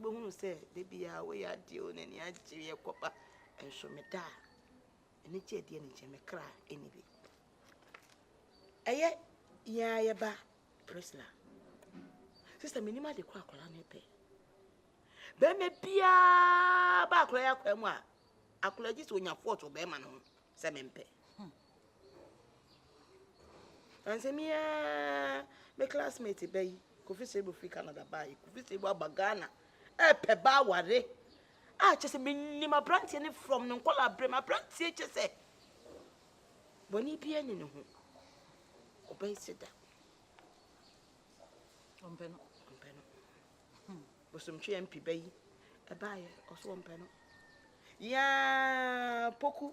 Wobɛhunu sɛ da biara woyɛ adeɛ o n'ani agye yɛ kɔba nso meda a ɛne gye adeɛ ne nkyɛn me kra ɛni bi ɛyɛ yɛn a yɛba Priscilla sista menim ade kɔ akɔla no pɛ bɛrima biara ba akɔla yɛ akɔla mu a akɔla gye sɛ onya fɔɔto bɛrima no ho sɛ mempɛ hmm. Ɔnnsɛm yi ara me classmate ba yi, Kofi Seibu firi Canada baa yi. Kofi Seibu aba Ghana ɛɛpɛ ba aware. A kyɛ sɛ menim aberanteɛ no from ne nkɔla berɛ mu. Aberanteɛ kyɛ sɛ bɔne biara ni ne ho. Ɔbɛn se da. Ɔmpɛ no. Ɔmpɛ no. Hmm. Bosomtwe MP ba yi ɛbaeɛ ɔso ɔmpɛ no. Yaa poku.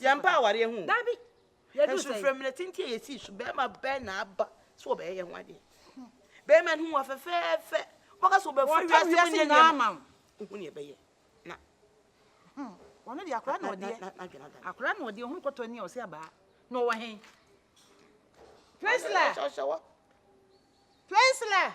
yɛmpa awareɛ ho dabi nsufrɛ mmerɛ tenten a yɛsii so bɛrima bɛn na aba sɛ wɔbɛyɛ yɛn ho adeɛ bɛrima no hu wa fɛfɛɛfɛ wɔka sɛ wɔbɛfiri wiase mu nyɛ nneɛma wohu ne ɛbɛyɛ na ɔno deɛ akora na ɔdeɛ akora na ɔdeɛ ɔhunu kɔtɔ ni a ɔsɛ abaa na ɔwɔ he Priscilla Priscilla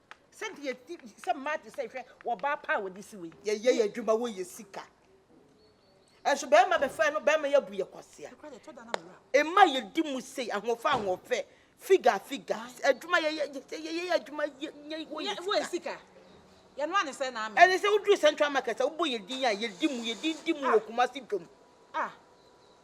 Sɛ deɛ ti sɛ mmaa te sɛ hwɛ wɔ baa pa a wɔde si wei. Yɛyɛ yɛ adwuma wɔ yɛ sika. Ɛnso bɛrima bɛfrɛ no bɛrima yɛ bu yɛ kwasia. Mmaa yɛ di mu sei ahoɔfɛ ahoɔfɛ figure figure adwuma yɛ yɛ sɛ yɛyɛ yɛ adwuma yɛ yɛ wɔ yɛ sika. Wɔ sika. Yɛ no ane sɛ na amɛ. Ɛne sɛ woduru central market a wobɔ yɛ din a yɛ di mu yɛ din di mu wɔ Kumasi dwom. Ah.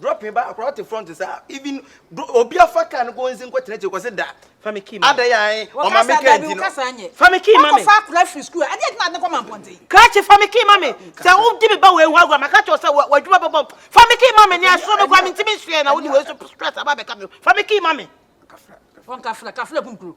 Dropping ba akora ɔte front sa even obi afa car no kɔ onzi nkɔ tena akyire kɔ se da fami key ma adaya ayi ɔma me car nti no fami key ma me fa akora firi school adi adwuma adi kɔ ma mpɔnten krakye fami key ma me sɛ wo di me ba wei ho agora maka kyerɛ sɛ wɔ adwuma bɛbɔ fami key ma me ne asoro me kwa me ntimi nsuɛ na wo di wei so stress aba bɛka me fami key ma me wɔn kafra kafra kunkuro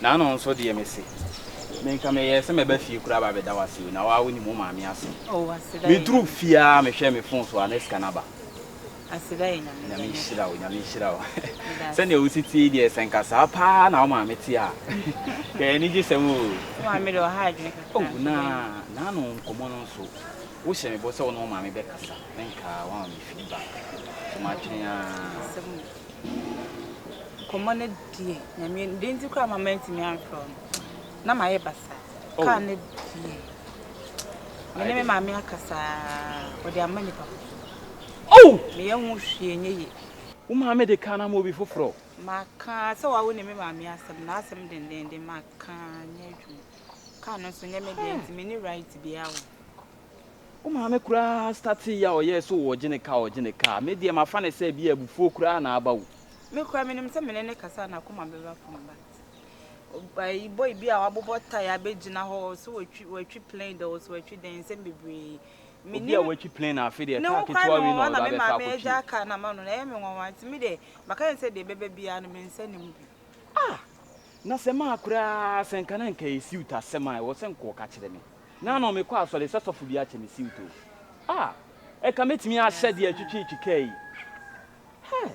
Naano nso deɛ mese, me nka meyɛɛ sɛ mɛba fie koraa aba abɛda wo ase o, na wo ara wonim wo maame asɛm. Oh, aseda yɛ. Meduru fie ara mehwɛɛ me phone so a na sika no aba. Aseda yɛ Nyame. Nyame nhyira wo, Nyame nhyira wo. Sɛdeɛ wo si te yi deɛ, sɛ nka saa paa na wo maame te a, nka yɛn ani gye sɛm o. Wo maame deɛ ɔha adwene kakra. Oh, na Naano nkɔmmɔ no nso, wohyɛ me bɔ sɛ wo ne wo maame bɛkasa, na nka woama me feedback, so matwɛn ara. Nkɔmmɔ no deɛ nyame deɛ nti koraa ma mantumi amfrɛ no na mayɛ basaa oh. kaa no deɛ mene me maame akasaa ɔde ama nipa oh! meyɛ ho hwie nyɛ ye wo maame de kaa no ama obi foforɔ maka sɛ wawo ne me maame asɛm na asɛm dendenden maka nyɛ adwuma kaa no nso nyɛ me deɛ nti mene right biaa wɔ Wo maame koraa startee yɛ a ɔyɛɛ sɛ ɔregye ne ka ɔregye ne ka a, me deɛ mafa no sɛ ebia abufuo koraa na aba wo. Me koraa menim sɛ me ne no kasa a n'akoma bɛba fam but ɛyi boy bi a wabobɔ tie abɛgyina hɔ sɛ watwi watwi plane dɛ ɔsɛ watwi dɛn nsɛm bebree Obi a watwi plane na afe deɛ ne kaa ho kwan ketewa me wei na nwanwa ɔde na ba me bɛtɔ maame akɔtwi. agya kaa na ma no na ɛyɛ me nwanwa nti me deɛ maka ne sɛ deɛ ɛbɛba biara no me nsa nni mu bi. Ah! Na sɛ maa koraa sɛ nka na nka ɛyɛ suit asɛm a ɛwɔ sɛ nka ɔka kyerɛ me. Naa no mekɔ asɔre sɛ sɔfo bi akyɛ me siwto a ɛka mɛtumi ahyɛ deɛ ɛtwetwe twika yi hɛɛ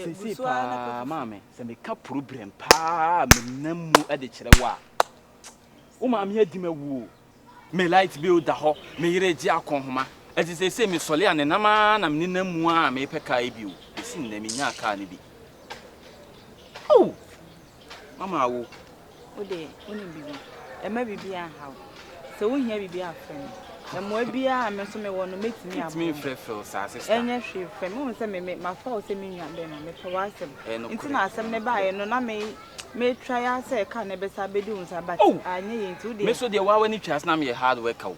seisei paa maame sɛ meka problem paa a menam mu de kyerɛ wo a wo maame adi ma wuo me light bill da hɔ me yere gye akɔnhoma ɛti seisei mesɔle a ne nam a na mene nam mu a mepɛ kaa yi bio bɛsi nnɛ menyaa kaa no bi oh Mama awo. Wo de, wonim biribi. Mma biribiara nha wo. Sɛ wohia biribi a, frɛ me. Mmoa biara a me nso mewɔ no, mɛtumi aboa. Ntumi mfrɛfrɛ wo saa, sista. Ɛnyɛ hwee, frɛ me. Wohu sɛ me, me, mafa wo sɛ me nua bɛrima. Mepɛ w'asɛm. Ɛyɛ nokorɛ. Nti na asɛm no baeɛ no, na me, metra ya sɛ car no bɛsan abɛdi wo nsa, but anyɛ yie nti, wo deɛ. Me nso deɛ, woa w'ani twa ase na meyɛ hard worker o.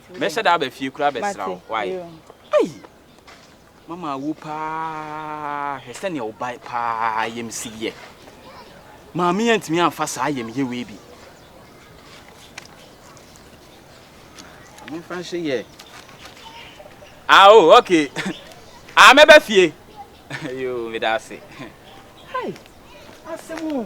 Mɛhyɛ da aba fie koraa abɛsra wo. Why? Ei! Mama awu paa. Hwɛ sɛnea wo ba paa yam si yɛ. Maame antumi amfa saa yam yɛ wei bi. Amemfa nhyɛ yɛ. Ah, oh, okay. Ah, mɛba fie. Yo, meda ase. Hey, asɛm o.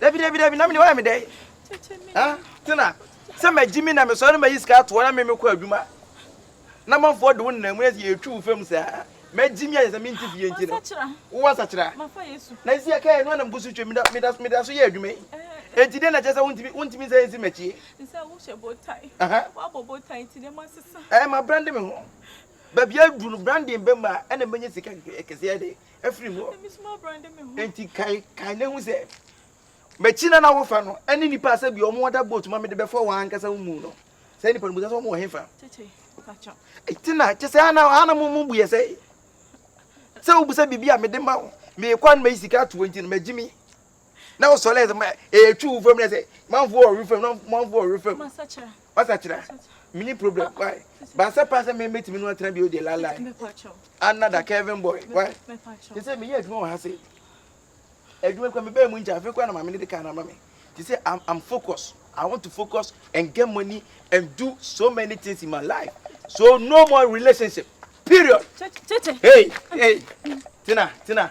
dabi dabi dabi na mene wayɛ me dɛ tena sɛ magye mi na mesɔre no mayi sika atoɔ na me mekɔ adwuma na manfoɔ de wo nna mu ɛsɛ yɛtwi wo fam saa magye mi ayɛ sɛ mente fie nti no wowɔ asakyera na ɛsi aka yɛ no anam gu so twam meda so yɛ adwuma yi enti dɛn na kyɛ sɛ wontumi sɛ ɛnsi makyie ɛma brande me ho baabi aduru no branding bɛma ɛna mɛnya sika kɛseɛ de afiri mu hɔ. Enti kan kan na ehu sɛ m'akyi na na wofa no ɛne nipa a sɛbi wɔn ada boat ma mede bɛfɔ wɔn ankasa wo mu no sɛ nipa no mu sɛ wɔn wɔ hefa. Eti na kyɛ sɛ ana ana mo mo bu yɛ sɛ sɛ wobisa biribi a mede ma wo meekɔ a na mayi sika ato wo nti no magye mi. na o sɔlɛ sɛ ma ee twi wo fam na sɛ manfo wɔ ɔwe fam na manfo wɔ ɔwe fam wasakyera mini problem why baasa paa sɛ mɛmɛ tìmi no atena bi o deɛ lala anada kevin boy why te sɛ meyɛ adwuma wɔ ha se adwuma kura mebɛɛ mu nkyɛn afei kura na maame ne de kaa na ama me te sɛ I'm, I'm focused I want to focus and get money and do so many things in my life so no more relationship period hey hey tina tina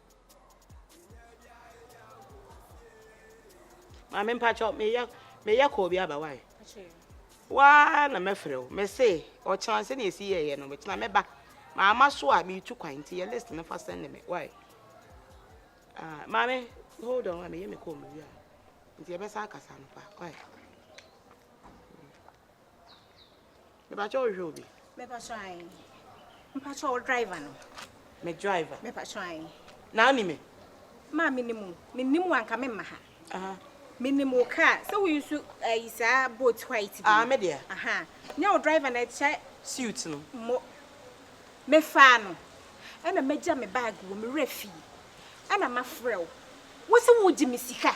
maame mpakyɛ meyɛ meyɛ kɔɔ bi aba wae waa na mɛfrɛ wo mese ɔkyena sɛ ne ɛsi yɛyɛ no mekyena mɛba maama so a metu kwan nti yɛ list no fa sɛne me wae ah, maame hold on meyɛ me kɔɔ mewie a nti yɛbɛsa akasa no pa wae Mepakyɛ wo hwɛ obi. Mepakyɛ ayi. Mepakyɛ wo driver no. Me driver. Mepakyɛ ayi. Na oni me. Ma me nimu. Me nimu anka me maha. Aha. Me nimu ka. Sɛ wo yusu ayi saa boat white bi. Ah me dia. Aha. Nya wo driver na kyɛ. Suit no. Mo. Me fa no. Ena me gya me bag wo me wura fi. Ena ma frɛ wo. Wo se wo gye me sika.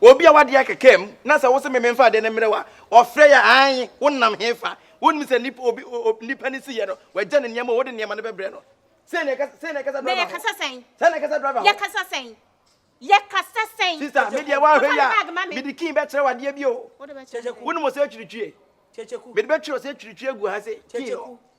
Obi a w'adeɛ kɛkɛ mu na sɛ wose me menfa adeɛ no mmerɛ wo a, ɔfrɛ yɛ aane, wonam he fa? Wonnim sɛ nnipa obi obi nnipa ne siiɛ no, w'agya ne nneɛma a wode nneɛma no bɛbrɛ no? Sei na yɛkasa sei na yɛkasa driver ho. Na yɛkasa sɛn? Sɛn na yɛkasa driver ho. Yɛkasa sɛn? Yɛkasa sɛn? Sister, me deɛ woanhwɛ yie a, mede key bɛkyerɛ wo adeɛ bi o. Wonim ɔsɛ atwiritwie? Mede bɛtwerɛ ɔsɛ atwiritwie agu ha sei, key no.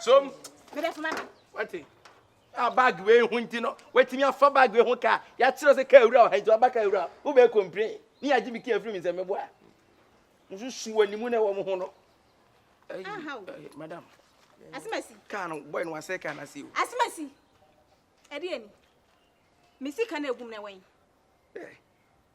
so mede fama no wate a bag wei ho nti no watumi afa bag wei ho kaa yɛakyerɛ sɛ kaa awura ɔha nti waba kaa awura wobɛɛ complain ne yɛagye me kaa afiri me sɛ meboa nso su wɔ ne mu na ɛwɔ mo ho no madam asemasi kaa no bɔe no wasɛ kaa no ase o asemasi ɛdeɛ ni me sika no agum na ɛwɔ yi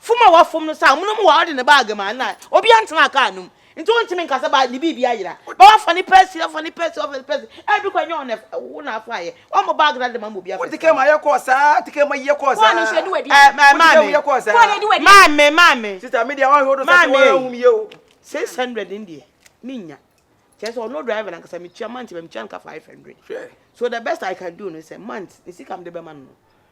Fom a wafom no saa amonom wɔ a ɔde ne bag ma na obiara ntena car no mu nti wontumi nka sɛ ne biribi ayera ba wafa ne pɛsi wafa ne pɛsi wafa ne pɛsi ɛbi kɔ ɛnyɛ wɔn na wo na afa ayɛ wɔn mo bag na de ma ma obiara wote kɛm ayɛ kɔɔ saa te kɛm ayɛ kɔɔ saa wɔn nso ɛdi wadi ɛɛ maame maame maame maame sista mi deɛ wɔn ahwɛ do sɛ wɔn ahum yie o six hundred in deɛ mi nya kyerɛ sɛ ɔno driver nankasa mi tua month bɛ mi tua nka five hundred so the best I can do no sɛ month ne sika mi de bɛ ma no.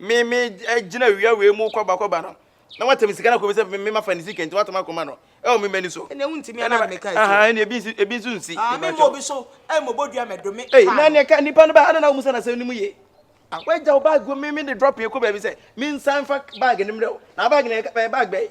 me me gyina awia wei mu kɔba kɔba no na watɛm sika no akɔmi sɛ me ma fa ne sika nti watɛm akɔma no ɛwɔ me mani so. ɛnna wuntumi ɛna na meka ɛkyɛ ɛna ebi nso ebi nso nsi. aa me mɔ bi so ɛyɛ mɔ bɔ dua mɛ dome. ɛyi na ne ka nipa no ba ana na wɔn sɛ na sɛ ne mu ye a wagya o baagi mi mi de drop yɛ kɔ baabi sɛ mi nsa nfa baagi ne mmerɛ o na baagi na yɛ ka bɛyɛ baagi bɛyɛ.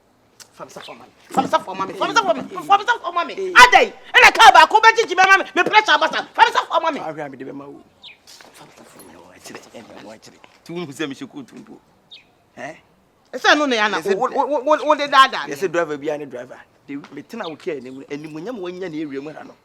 adai ɛna kaa baako bɛgyegye bɛma me me pressure abasa famsafo ama me ahwɛ a mede bɛma wo famsafo mmerɛ wɔ akyerɛ ɛmmerɛ wɔ akyerɛ nti wohu sɛ mehyɛ kootu mpo ɛsɛ no na yɛ ana wode daadaa yɛsɛ driver biara ne driver metena wo kaa anim animonyam wanya ne awia mu ha no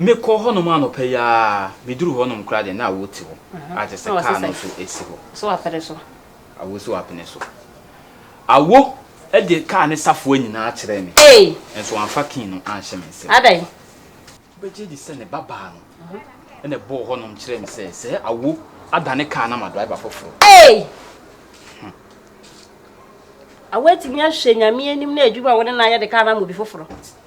Mekɔɔ hɔnom anɔpa yi ara, meduruu hɔnom koraa deɛ, na awoɔ te hɔ a kyerɛ sɛ kaa no nso si hɔ. Awoɔ si w'apene so. Awoɔ de kaa ne safoa nyinaa kyerɛɛ me, nso wamfa key no anhyɛ me nsam. Wobɛgye adi sɛ ne ba baa no na ɛbɔɔ hɔnom kyerɛɛ me sɛ, sɛ Awoɔ adane kaa no ama driver foforɔ a? Awoɔ atumi ahwɛ Nyame anim na adwuma a wo ne no ayɛ de kaa no ama obi foforɔ?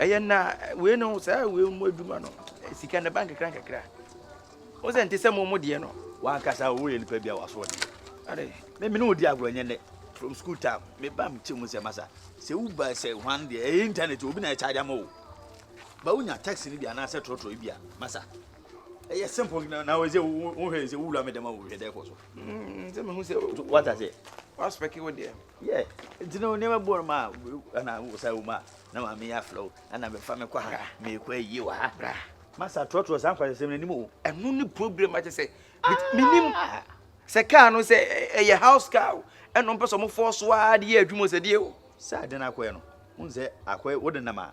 Ɛyɛ na wei no saa wei mu adwuma no sika na ba nkakra nkakra. Wo sɛ nte sɛ mo mo deɛ no. Wankasa wo yɛ nipa bi a waso ɔde. Ade me me no di agorɔ nyɛ nɛ from school time me ba me kyɛ mu sɛ masa sɛ wo ba sɛ hwan deɛ ɛyɛ internet obi na ɛkyɛ ama wo ba wo nya taxi no bi anaasɛ trɔtrɔ bi a masa ɛyɛ simple na na wɔsɛ wo hwɛ sɛ wo wura me dɛm a wo hwɛ dɛ kɔ so mm sɛ me hu sɛ wata sɛ waspɛke wo deɛ Yeah, nti no nneɛma bɔɔ no mu a ɛna wo saa wo mu a na maame yɛ afrɛ wo ɛna mefa me kɔ ha meekɔ ayie wɔ ha bra masa trɔtrɔ saa nkwasɛsɛm no anim o ɛno ne problem akyɛ sɛ menim sɛ kaa no sɛ ɛyɛ house car o ɛno mpɛ sɛ ɔmofɔɔ so ara de yɛ adwuma sɛ deɛ o sɛ ade no akɔɛ no wo sɛ akɔɛ wode nam a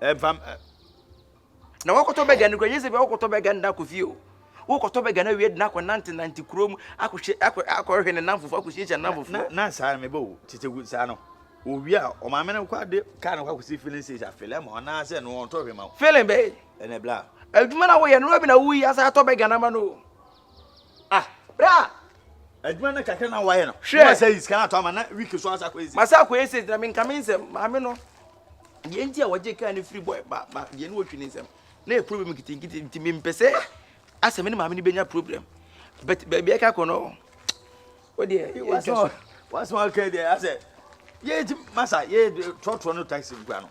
ɛva m ɛ. Na wɔkɔtɔ bɛga no kura yɛ sɛ bi wɔkɔtɔ bɛga nda kɔ fie o wokɔtɔ bɛga no awie de no akɔ nante nante kuro mu akɔhyɛ akɔ akɔhwɛ ne namfofo akɔhyiahyia ne namfofo. na na saa mebɔ o tete gu saa no owie a ɔmaame no kɔ ade kaa no kɔ akɔsi filling station afele ma ɔnaasɛ no ɔntɔ hwɛ ma wo. filling bɛyɛ ɛnɛ bla. adwuma na woyɛ no na bi na woyi asa atɔ bɛga no ama no o Ah, bra! Adwuma no kakra na wayɛ no. Hwɛ. Wɔn sɛ yi sika no atɔ ama na wiki so asa akɔyɛ sika. Masa akɔyɛ sika na menka me nsɛm. Maame no, deɛ nti a wɔgye kaa no firi boy ba ba deɛ ne wɔtwi ne nsɛm. Na yɛ problem nkitinkiti nti mempɛ sɛ asɛ me ne maame no bɛnya problem. But baabi ɛka kɔ no, wo deɛ ɛtwa so. Wasɛm aka deɛ asɛ, yɛ nti masa yɛ trɔtrɔ no taxi nkura no.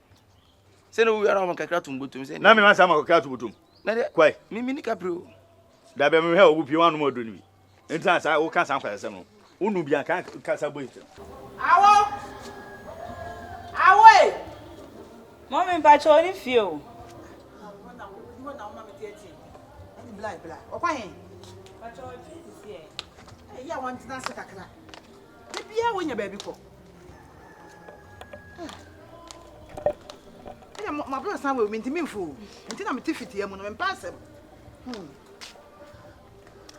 sɛ na owi ara ɔmo kakra tum botum sɛ na mi ma sa ma kakra tum botum na de kwai mi mi ni kapri o da bɛ mi hɛ obu pie wanu mo do ni bi ntina sa wo ka sa nkwasa sɛm no unu bi anka ka sa boy sɛm awo awo e mo mi mpa cho ni fie o bla bla okwa he pa cho fie si si e ya won tina se kakra Da biara wonya baabi kɔ. Ɛna mo aburo san wɔ mi nti mi nfu. Nti na mi ti fiti emu no mi mpa asɛm. Hmm.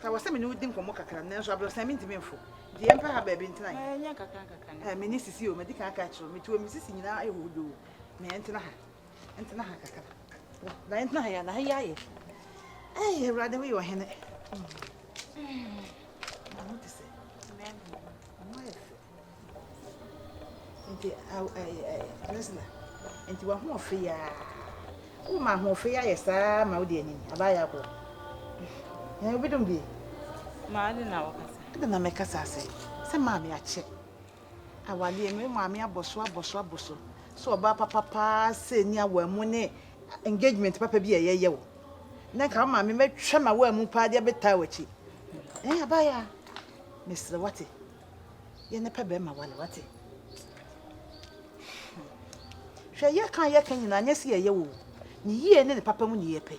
Ka wɔ sɛ mi ne wodi nkɔmɔ kakra nanso aburo san mi nti mi nfu. Nti yɛn pɛ ha baabi ntina yɛ. Ɛnyɛ kakra kakra. Ɛɛ mi ne sisi o mi di kan aka kyerɛ mi tuo mi sisi nyinaa ayɛ hohodoo na yɛn tena ha. Ɛntena ha kakra. Na ɛntena ha yɛ na ha yɛ ayɛ. Ɛyɛ awurade wo yɛ ɔhene. Na mo te sɛ. Mo ayɛ fɛ. Nti ɛsna. Nti wa ho ɔfɛ ya. Wo ma ho ɔfɛ ya yɛ saa ma wo de anim. Aba yɛ akɔ. Na obi dum bi. Ma ade na wo kasa. Ade na me kasa sɛ. Sɛ maame akyɛ. Awadeɛ, me maame abɔ so abɔ so abɔ so sɛ ɔbaa papa paa sɛ ni awaa mu ne engagement papa bi a ɛyɛ yɛ wo na nka wo maame mɛtwa ma waa mu paa de abɛtaa w'akyi ɛn abaayɛ a mesrɛ wate yɛ ne pɛ bɛrima wale wate hwɛ yɛ kan yɛ kan nyinaa nyɛ sɛ yɛyɛ wo ne yie ne ne papa mu ne yɛ pɛ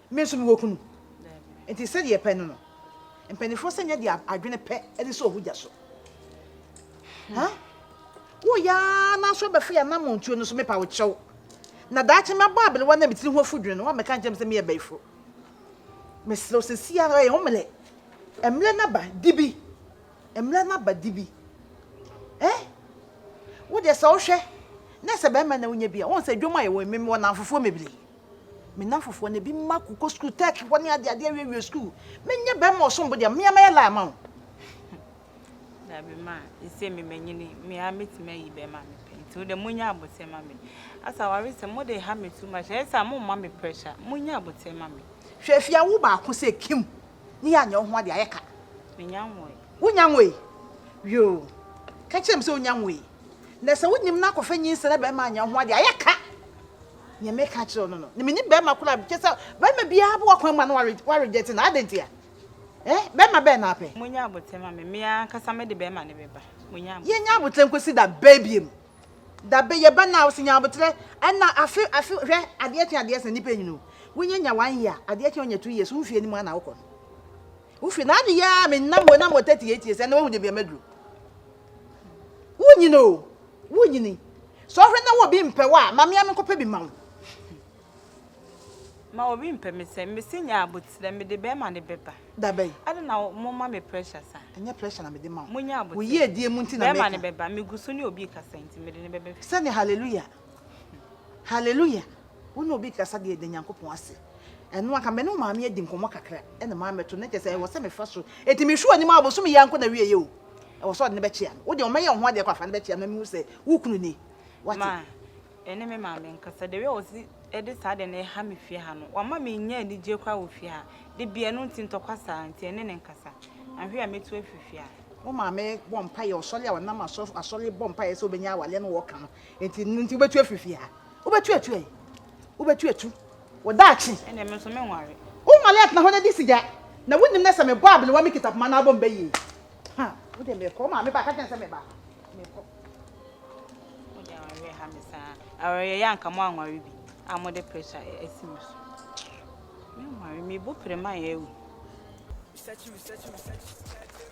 Me nso mewɔ kunu, enti sɛdeɛ yɛpɛ no no, mpanimfoɔ sɛ nyɛ deɛ adwene pɛ de sɛ ɔho gya so. Ha? Woyɛ ara na nso abɛfo yɛ anam ntuo no so mepa wo kyɛw. Na daakye mɛbɔ aberewa na metiri ho afudwene no, woamɛka nkyɛn me sɛ meyɛ bɛyifo. Mesrɛ wo sɛ si ara yɛ wo mmerɛ. Mmerɛ no aba, di bi. Mmerɛ no aba, di bi. Eh? Wo deɛ sɛ wohwɛ, na sɛ bɛrima na wonya bi a, wɔn sɛ dwom a yɛwɔ mmemme wɔ namfofoɔ bebree. Me nnamfofoɔ no, bi mma ko kɔ sukuu, tɛɛk hɔ ne adeade awie awie sukuu. Menyɛ bɛɛma ɔsom bo deɛ, mmea mɛyɛ laa ma wo. Dabi ma, ese me manyini, me ara mɛtumi ayi bɛɛma a mepɛ, nti wo deɛ monya aboterɛ ma me. Asa aware sɛm, mo de ha me too much, ayɛ saa mo mma me pressure, monya aboterɛ ma me. Hwɛ afie a wo baako sɛ kim ne yɛ anyɛ wo ho adeɛ ayɛ ka. Me nya nwoe. Wo nya nwoe? Yoo, ka kyerɛ me sɛ wo nya nwoe. Na sɛ wo nim na akɔfa nyinsɛn na bɛɛma anyɛ wo ho adeɛ ayɛ ka. Nea meka akyerɛ wo no no, na menni barima koro a kyerɛ sɛ barima biara bɔ w'akwan mu a na warejɛte no. Adɛn nti a? Eh, barima bɛn na apɛ? Monnya aboterɛ ma me. Me ankasa mede barima no bɛba. Monnya aboterɛ. Yɛnnya aboterɛ nkɔsi da bɛn biom? Da bɛn? Yɛba nnɛ a, wo se nya aboterɛ? Ɛnna afe, afe, hwɛ, adeɛ kye adeɛ sa, nnipa nyini o. Wonya nya one year, adeɛ kye wonya two years, wo mfeɛ no mu ara na wokɔ no. Wo mfeɛ, na adeyɛ ara menam, menam wɔ thirty eight years, ɛnnɛ woahu deɛ bia maduru. Wonyin o, wonyin. Sɛ ɔhwɛ na wɔ bi mpɛ wo a, ma me a menkɔpɛ bi ma wo. Ma wɔ bi mpɛ me sɛ, mese nyɛ aboterɛ, mede bɛɛma ne bɛba. Dabɛn. Adɛn na mo ma me pressure saa. Ɛnyɛ pressure na mede ma wo. Mo nyɛ aboterɛ. Wo yiedie mu nti na meka. Bɛɛma ne bɛba, me gu so ne obi rekasa nti mede no bɛba fie. Sɛnea hallelujah. Hallelujah wo ne obi kasa deɛ da Nyankopɔn ase ɛno anka me ne wo maame adi nkɔmmɔ kakra ɛna maa mɛto na kyɛ sɛ ɛwɔ sɛ mefa so ɛti mehwɛ anim a bosom yɛ anko na wie yɛ o ɛwɔ sɛ ɔde ne bɛkyea no wo deɛ ɔmɛyɛ wo ho adeɛ kɔ afa ne bɛkyea na mehu sɛ wo kunu ni wate ma ɛne me maame nkasa deɛ wia wɔ si ɛde saa deɛ na ɛha me fie ha no wama me nya anigye kora wɔ fie ha de bia ɛno nti ntɔkwa saa nti ɛne ne nkasa ahwe a mɛtu afiri fie ha wo maame bɔ mpa yɛ ɔsɔre a ɔnam asɔre bɔ mpa yɛ sɛ wobɛnya awaleɛ no wɔka no Nti nti wobɛtu afiri fie ha. Wobɛtu atu ɛ. Wobɛtu atu. Wɔdaakye. Ɛnna ɛmi nso menware. Wonwale atena hɔ na di sigya. Na wonim na sɛ mebɔ abenewa me kita poma na abɔ mba yie. Ha, wo deɛ mekɔ. Wo maame ba ka kyɛn sɛ meba. Mekɔ. Mo deɛ awareɛ ha me saa. Awareɛ yɛ anka mo anware bi a mo de pressure asi mo so. Menware, mebo pere ma yɛ awu. Research, research, research.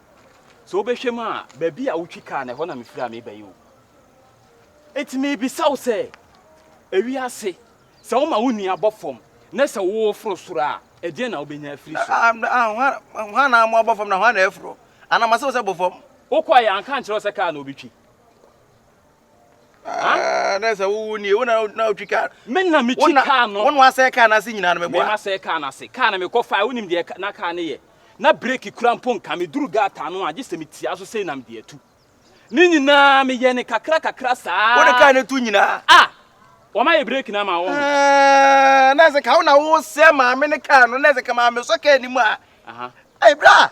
Sɛ wobɛhwɛ mu a, baabi a wotwi kaa no, ɛhɔ na mefiri a meba yi o. Enti mebisa wo sɛ, ewiase, sɛ woma wo nua bɔ fam na sɛ woforo soro a, ɛdeɛn na wobɛnya afiri so? Ah, ah, hwan na mo abɔ fam na hwan na afuro? Anaa masɛ wo sɛ bɔ fam? Wokɔeɛ anka ankyerɛ wo sɛ kaa na wobɛtwi? Ah, na sɛ wowo nie wo na na wotwi kaa me na metwi kaa no wona asɛe kaa no ase nyinaa no meboa mema sɛe kaa no ase kaa no mekɔ fae wonim deɛ na kaa no yɛ na breki kura mpo nka meduru gata no a gye sɛ metia so sei na mede atu ne nyinaa meyɛ ne kakra kakra saa wode kaa no tu nyinaa a ah, wɔma yɛ breki no ama wo ah, na sɛ ka wo na wosɛ maame ne kaa no na sɛ ka maame sɔ kaa anim a ɛberɛ a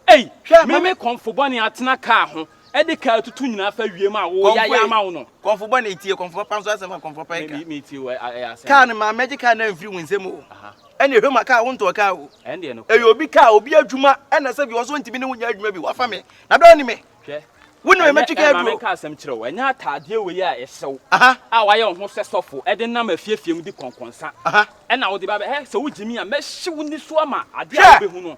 Ei, hwɛ, ma me kɔmfo bɔne atena kaa ho de kaa atutu nyinaa afa wiem a woyae ama wo no. Kɔmfo bɔne, tie kɔmfo papa nso asɛm a kɔmfo pa ka. Metie o, ɛyɛ asɛm. Kaa no ma mɛgye kaa no amfiri wo nsam o. Ɛnneɛ hwɛ ma kaa wontɔɔ kaa o. Ɛyɛ obi kaa, obi adwuma, ɛnna sɛ bi wɔ so wontumi ne wo nyɛ adwuma bi, woafa me, na berɛ a wone me, wone me mɛtwe kaa aduro. Ɛnneɛ ma menka asɛm nkyerɛ wo, ɛnyɛ ataadeɛ wei a ɛhyɛ wo a woayɛ wo ho sɛ sɔfo de nam afiefie mu di kɔnkɔnsa na wode ba bɛ, hɛ, sɛ wogye me a, mɛhye wo nniso ama adeɛ a wobɛhu no.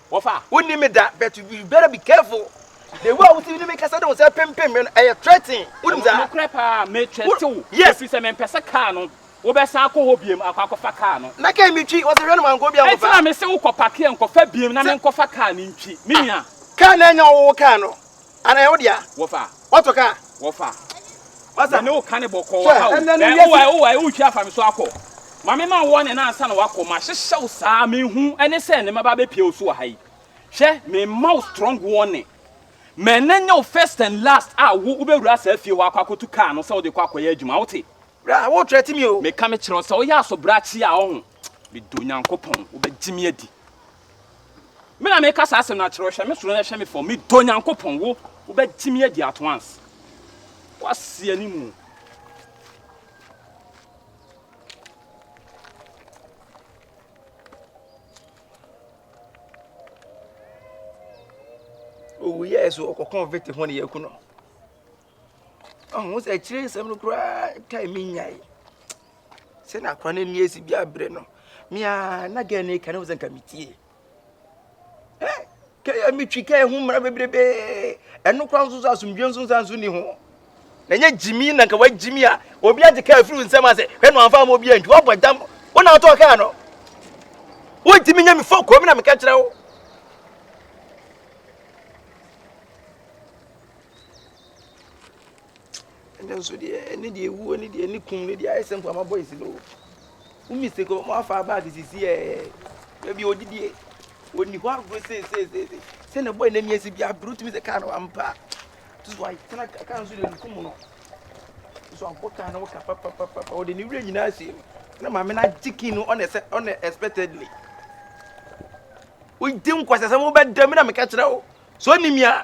Wɔfa a, wonni me da but you better be careful. The way a wotumi ne me kasa de wo nsa pempem me no, ɛyɛ threaten. Wonim saa? Nokorɛ paa, me threate wo. Yes. Ɛfiri sɛ mempɛ sɛ car no, wobɛsan akɔ hɔ biom akɔ akɔfa car no. Na car metwi, wɔse hwɛ no mankɔ obi ankɔfa. Ɛnti na mese wo kɔ pakeɛ nkɔfa biom na menkɔfa car no ntwi, me nua. Car no ɛnyɛ wo, wo car no. Ana ɛyɛ wo dea? Wɔfa. Wɔtɔ ka? Wɔfa. Masa. Mene wo ka ne bɔkɔɔ wɔ ha o. Ɛnɛ no wiase. Ɛwɔ ɛwɔ ɛwɔ twa afa me so akɔ. Mame ma wɔn ne na ansa na wakɔ. Ma hyehyɛ wo saa me hu ɛne sɛ ne ma ba bɛ pie wo so wɔ ha yi. Hwɛ me ma wo strong warning. Mɛ ne nyɛ wo first and last a wo wo bɛ wura saa fie hɔ akɔ akɔtu car no sɛ wo de kɔ akɔ yɛ adwuma wo te. Bra wo kyerɛ ti mi o. Me ka me kyerɛ wo sɛ wo yɛ aso brakye a ɔho. Me dɔ Nyankopɔn wo bɛ gye me adi. Me na meka saa asɛm no akyerɛ wo, hwɛ me soro na hwɛ me fam, medɔ Onyankopɔn, wo, wobɛtumi adi at once. Woaseɛ ne mu. owuyɛɛ so ɔkɔkɔɔ vete ho ne yɛaku no Ɔho sɛ akyire nsɛm no koraa tae me nyae sɛ na akora no ani asi bi abrɛ no mea na gɛ ne ka ne ho sɛ nka metie kɛyɛ metwi kɛyɛ ho mmara bebrebe ɛno koraa nso so asomdwe nso nsa nso ni ho na ɛnyɛ gyimi na nka wagyimi a obi agye kaa afiri nsɛm ase hwɛ no amfa ma obi antu wabɔ dam wo na wotɔɔ kaa no wontumi nya me fɔ kɔm na meka kyerɛ wo Ɛnɛ nso deɛ ɛne deɛ ewuo ne deɛ ne kum ne deɛ ayɛ sɛ nkurama bɔ esi no o. Wo mistake wɔn afa bag sisi ɛɛ ebi odidie oni hɔ agorɔ seeseeseese sɛ na ɛbɔ ɛnɛ mi esi bi abiri otumi sɛ kaa no ampa to so atena kaa nso deɛ nukum no so abɔ kaa no ka papapapa ɔde ne wura nyinaa si mu na maame no agye kin no ɔna ɛsɛ ɔna expectedly wodi nkwasasɛm wobɛda mi na meka kyerɛ wo so onim ya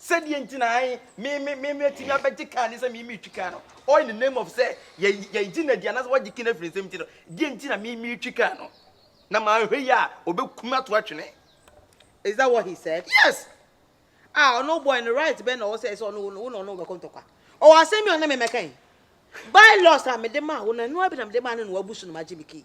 Sɛ deɛ nti na ae me me me mɛtumi abɛgye kaa ne sɛ me metwi kaa no all in the name of sɛ yɛ yɛgye no adi anaasɛ wagye kene afiri nsɛm nti no deɛ nti na me metwi kaa no na manhwɛ yi a ɔbɛkum ato atwene is that what he said yes ah ɔno boy no right bɛn na ɔwɔ sɛ sɛ ɔno wo na ɔno wobɛkɔ ntɔkwa ɔwɔ asɛm bi ɔne me mɛka yi by loss a mede maa wo no ɛnoa bi na mede maa no na wabu so no magye me kii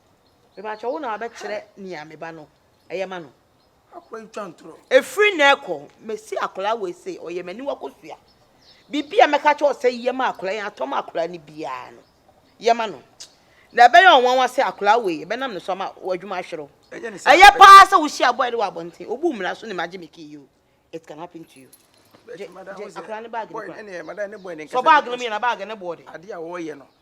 Mepakyɛ wo na wabɛkyerɛ nea me ba no yɛ ma no. Akwa yi twa ntorɔ. Efiri na ɛkɔ mesi akwadaa wei se ɔyɛ m'aniwa kosua. Biribi a mɛka kyerɛ ɔsɛ yɛ ma akwadaa yi atɔ ma akwadaa no biara no yɛ ma no. Na ɛbɛyɛ ɔnwanwa sɛ akwadaa wei ɛbɛnam ne so ama w'adwuma ahwere wo. Ɛyɛ paa sɛ wohyia boy no wɔ abɔnten. Obu mmara so ne magye me key yi o. It can happen to you. Gye akwadaa no bag no kora. Sɔ bag no mu yɛ na bag no boɔ de. Adeɛ a wɔyɛ no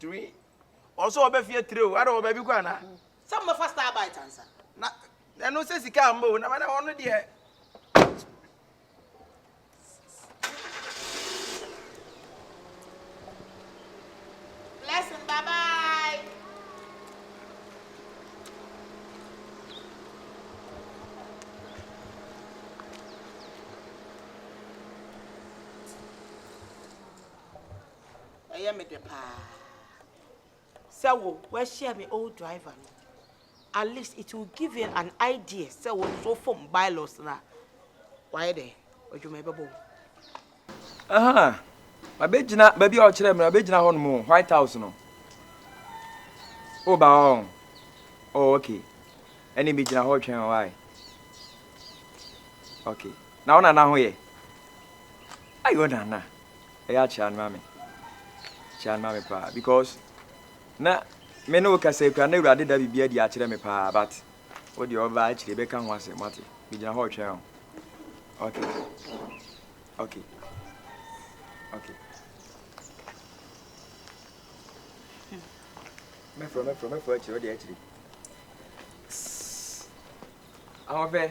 Three. Ɔsɛ ɔbɛ fie three o, ada wɔ baabi kɔ anaa? Sɛ mo bɛfa star bite ansa. Na ɛno sɛ sika a mbɔ o, na mana ɔno deɛ. Blessing, bye bye. Ɛyɛ me dɛ paa sɛ wo wahyia me old driver no at least it will give you an idea sɛ wo nso fom bylaws no a wayɛ dɛ adwuma ɛbɛbɔ wo. Aha, mabɛgyina baabi a ɔkyerɛ me no mabɛgyina hɔ nom White House no. Woba hɔ oh okay ɛne megyina hɔ twɛn hɔ ae okay na wo nana ho yɛ ayi wo nana Ɛyɛ a kyerɛ ano ma me. Kyerɛ ano ma me paa because na me ne wo kasa yi koraa na Awurade da biribi adi akyerɛ me paa but wo deɛ ɔbaa akyire bɛka ho asɛm wate. Megyina hɔ retwɛn o. Okay. Okay. Okay. Mɛfrɛ mɛfrɛ mɛfrɛ akyire wo deɛ akyire. Ahoɔfɛ.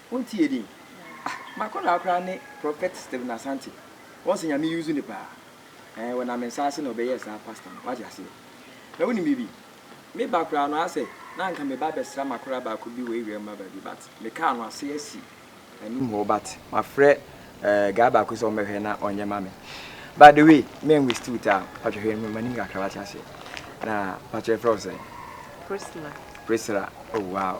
Wo nti yɛ din. Ah m'akɔdaa koraa ne prophet Stephen Asante wɔn sɛ Nyame use no paa ɛɛ wɔ nam nsa ase na ɔbɛyɛɛ saa pastor no wate aseɛ na wonim biribi me ba koraa no asɛ na anka me ba bɛsra m'akɔdaa baako bi wɔ Awiram ma baabi but me kaa no ase asi anim hɔ but mafrɛ ɛɛ guy baako sɛ ɔmmɛhwɛ na ɔnyɛ ma me but the way me and waste wo time patwɛ hwɛ no m'anim kakra wate aseɛ na patwɛ frɛ wo sɛn Priscilla Priscilla oh wow.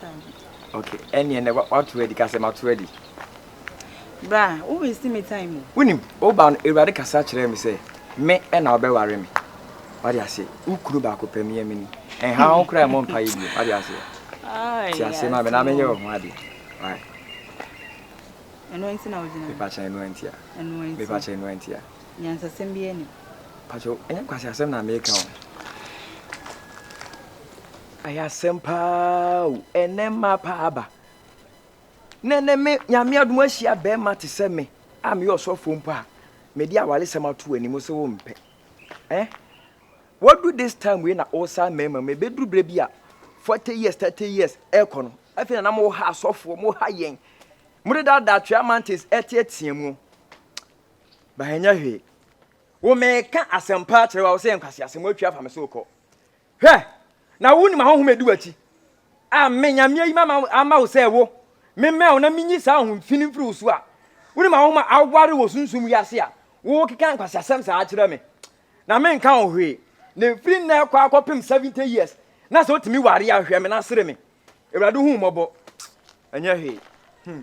Dabi. Ok, ɛneɛ nɛ wato adi, ka sɛ mato adi. Bra, wo waste me time o. Wonim, woba no Awurade kasa kyerɛɛ me sɛ me na wobɛware me. Wate aseɛ, wo kunu baako pɛ meɛ meni. Ɛnha wo koraa mmɔ mpaeɛ bio, wate aseɛ. Te aseɛ ma me na menyɛ wo ho adeɛ. Why? Ɛno nti na wogyina. Mepakyɛ ɛno nti a. Ɛno nti. Mepakyɛ ɛno nti a. Nyansasɛm bi ani. Pakyɛ, ɛnyɛ kwasi asɛm na meka o. Ayɛ asɛm paa o, ɛnɛ mmaa paa aba. Na ɛnɛ me nyame adom ahyia bɛrima te sɛ me a meyɛ ɔsɔfoɔ mpo a mede awaresɛm ato anim sɛ wompɛ. Eh? Wadu this time wei na wosa mmarima mu, ɛbɛduru berɛ bi a 40 years, 30 years ɛkɔ no, afei na na moha asɔfoɔ, moha yɛn, mode daadaa twea mantis ɛteatea mu. Ba ɛnyɛ hwee. Wo meka asɛmpa akyerɛ wa wo sɛ yɛ nkwaseasɛm, woatwa afa me so kɔ. Hwɛ! Na wunim ahonhom a edi w'akyi a me, Nyame, ayi me ama wo sɛ wo, memmɛn wo na minyi saa ahonhom fi no mfiri wo so a. Wunim ahonhom a aware wɔ sunsum wiase a wokeka nkwaseasɛm saa kyerɛ me, na menka ho hwee. Na efi nnɛ rekɔ akɔpem seventy years, na sɛ otumi ware a, hwɛ me na sere me. Awurade, hu mmɔbɔ. Ɛnyɛ hwee. Hmm.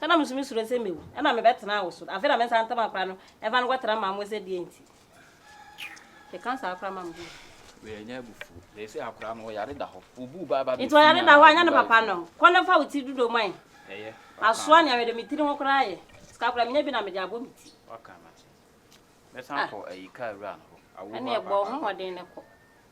Sɛ na musu misuro sɛ mewu, ɛnna mebɛtena awo so. Afei na me nsa ntam akora no, ɛmfa no nkɔtra mmaa mu sɛ deɛn nti? Keka saa koraa ma me ho gu. Wei ɛnyɛ abufuo. Seesei akora no, ɔyare da hɔ. Wobuu baa ba bɛfiri Nti ɔyare da hɔ a, ɛnyɛ ne papa no? Kɔ na fa wo ti dodom ma yɛn. Ɛyɛ. Asoa nea mede me tiri ho koraa ayɛ. Sika koraa, menya bi na mede abɔ me ti. Waka no ate. Mɛsan akɔ ayi kaa wura no hɔ. Awo hɔ apaapae. Ɛnneɛ bɔ wo ho mmɔden na kɔ.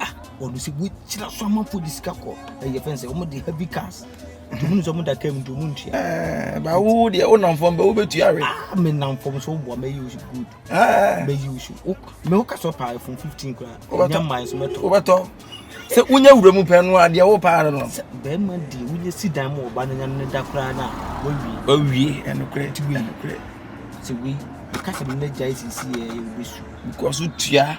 ah wɔn sɛ wɔakyira so amanfoɔ de sika kɔ ɛyɛ fɛn sɛ wɔn de heavy cars tumi nsɛ wɔn da kaa mu nti wɔn ntua. ɛɛ ba wo deɛ wo nam fam bɛ wo bɛ tua rɛ. ah mi nam fam so bɔ mɛ yi o si good. ɛɛ mɛ yi o si o mɛ o ka sɔ paa fun fifteen kura ɛnya maa nso mɛ tɔ. o bɛ tɔ sɛ wonyɛ wura mu pɛn no adeɛ wo paa no. sɛ bɛrima di wonyɛ si dan mu ɔba no nya ne da koraa na wawie. wawie ɛnokorɛ ti wei ɛnokorɛ. sɛ wei kasa mi na gya esisi yɛ yɛ obesu. because tua.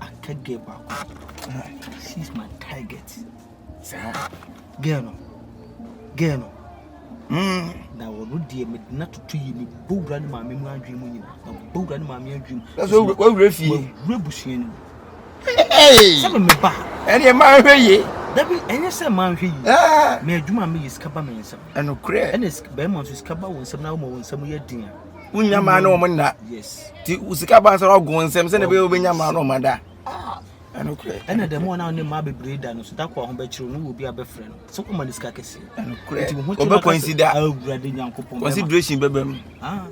ah ka girl baako ah she's my target saa girl no girl no mm na wɔn deɛ mede na toto yie me bɔ wura ne maame mu adwene mu nyina na bɔ wura ne maame adwene mu na so wawura fie wawura busua no mu sɛ me me ba ɛneɛ ma nhwɛ yie dabi ɛnyɛ sɛ ma nhwɛ yie mɛ adwuma a meyɛ sika ba me nsɛm ɛnokorɛ ɛne bɛrima nso sika ba wo nsɛm na woma wo nsɛm yɛ den a wonya maa ne wɔn nna ti sika ba nsa ɔgo nsɛm sɛ na bɛyɛ wobɛnya maa ne wɔn ada ɛna dɛm wɔn a ne mmaa bebree da no so da kɔ a ho bɛkyerɛ no wɔ bi a bɛfrɛ no sɛ kɔma ne sika kɛse nti ho kyerɛ kɔnsi da awurade nyankopɔn consideration bɛbɛ mu ah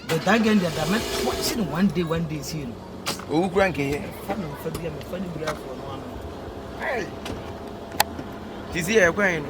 but that girl deɛ da mɛtoa si no one day one day sie no Owu kura nkɛyɛ. Fa me nfa bi a mefa ne wura afoɔ no ano. Hey. Tisi yɛ ɛkwan yi no.